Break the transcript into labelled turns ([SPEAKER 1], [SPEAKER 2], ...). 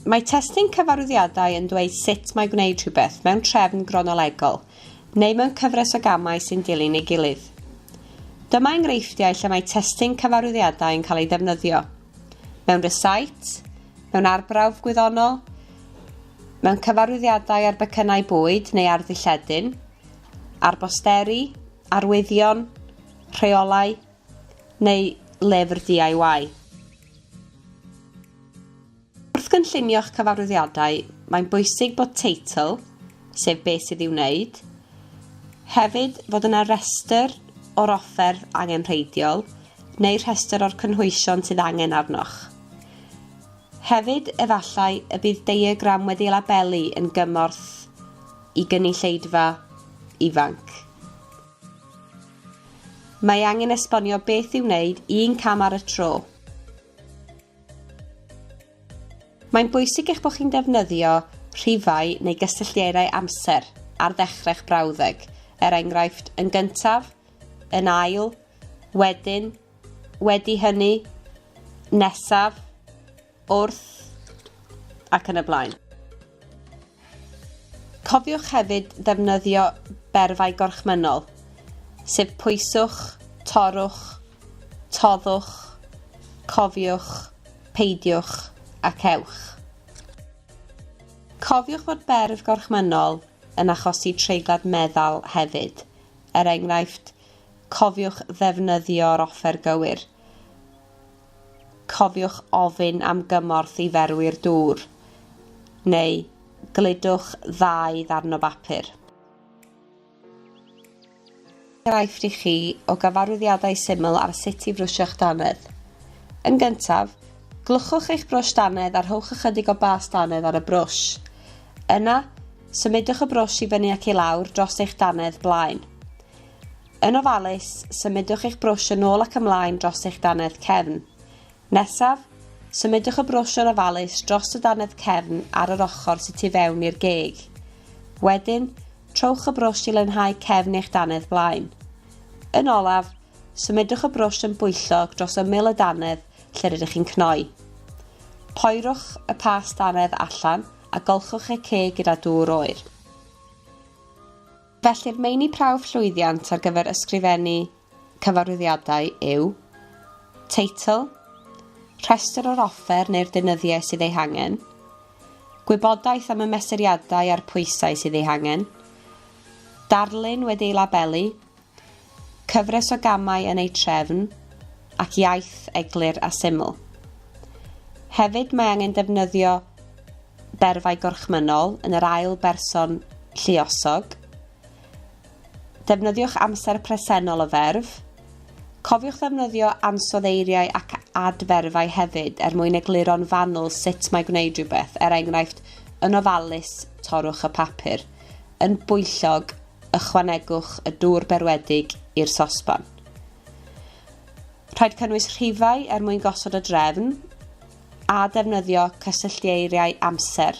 [SPEAKER 1] Mae testun cyfarwyddiadau yn dweud sut mae gwneud rhywbeth mewn trefn gronolegol neu mewn cyfres o gamau sy'n dilyn ei gilydd. Dyma enghreifftiau lle mae testun cyfarwyddiadau yn cael ei ddefnyddio. Mewn recite, mewn arbrawf gwyddonol, Mewn cyfarwyddiadau ar becynnau bwyd neu ar ddilledyn, ar bosteri, arwyddion, rheolau neu lyfr DIY. Wrth gynllunio'ch cyfarwyddiadau, mae'n bwysig bod teitl, sef beth sydd i'w wneud, hefyd fod yna restr o'r offer angenrheidiol neu rhestr o'r cynhwysion sydd angen arnoch. Hefyd, efallai y bydd diagram wedi labelu yn gymorth i gynulleidfa ifanc. Mae angen esbonio beth i'w wneud un cam ar y tro. Mae'n bwysig eich bod chi'n defnyddio rhifau neu gysylltiadau amser ar ddechrau'ch brawddeg, er enghraifft, yn gyntaf, yn ail, wedyn, wedi hynny, nesaf, wrth, ac yn y blaen. Cofiwch hefyd ddefnyddio berfau gorchmynnol, sef pwyswch, torrwch, toddwch, cofiwch, peidiwch, ac ewch. Cofiwch fod berf gorchmynnol yn achosi treiglad meddal hefyd, er enghraifft, Cofiwch ddefnyddio'r offer gywir. Cofiwch ofyn am gymorth i ferwi'r dŵr, neu gludwch ddau ddarn o bapur. Enghraifft i chi o gyfarwyddiadau syml ar sut i frwsio'ch dannedd. Yn gyntaf, glwchwch eich brwsh dannedd a rhowch ychydig o bas dannedd ar y brwsh. Yna, symudwch y brwsh i fyny ac i lawr dros eich dannedd blaen. Yn ofalus, symudwch eich brwsh yn ôl ac ymlaen dros eich dannedd cefn. Nesaf, symudwch y brwsh yn ofalus dros y dannedd cefn ar yr ochr sydd tu fewn i'r geg. Wedyn, trowch y brwsh i lynhau cefn eich dannedd blaen. Yn olaf, symudwch y brwsh yn bwyllog dros ymyl y dannedd lle rydych chi'n cnoi. Poerwch y past dannedd allan a golchwch y ceg gyda dŵr oer. Felly'r meini prawf llwyddiant ar gyfer ysgrifennu cyfarwyddiadau yw teitl, rhestr o'r offer neu'r deunyddiau sydd eu hangen, gwybodaeth am y mesuriadau a'r pwysau sydd eu hangen, darlun wedi ei labelu, Cyfres o gamau yn eu trefn ac iaith eglur a syml. Hefyd mae angen defnyddio berfau gorchmynnol yn yr ail berson lluosog. Defnyddiwch amser presennol o ferf. Cofiwch ddefnyddio ansoddeiriau ac adferfau hefyd er mwyn egluro'n fanwl sut mae gwneud rhywbeth, er enghraifft, yn ofalus, torrwch y papur. Yn bwyllog, ychwanegwch y dŵr berwedig i'r sosban. Rhaid cynnwys rhifau er mwyn gosod y drefn a defnyddio cysylltieiriau amser.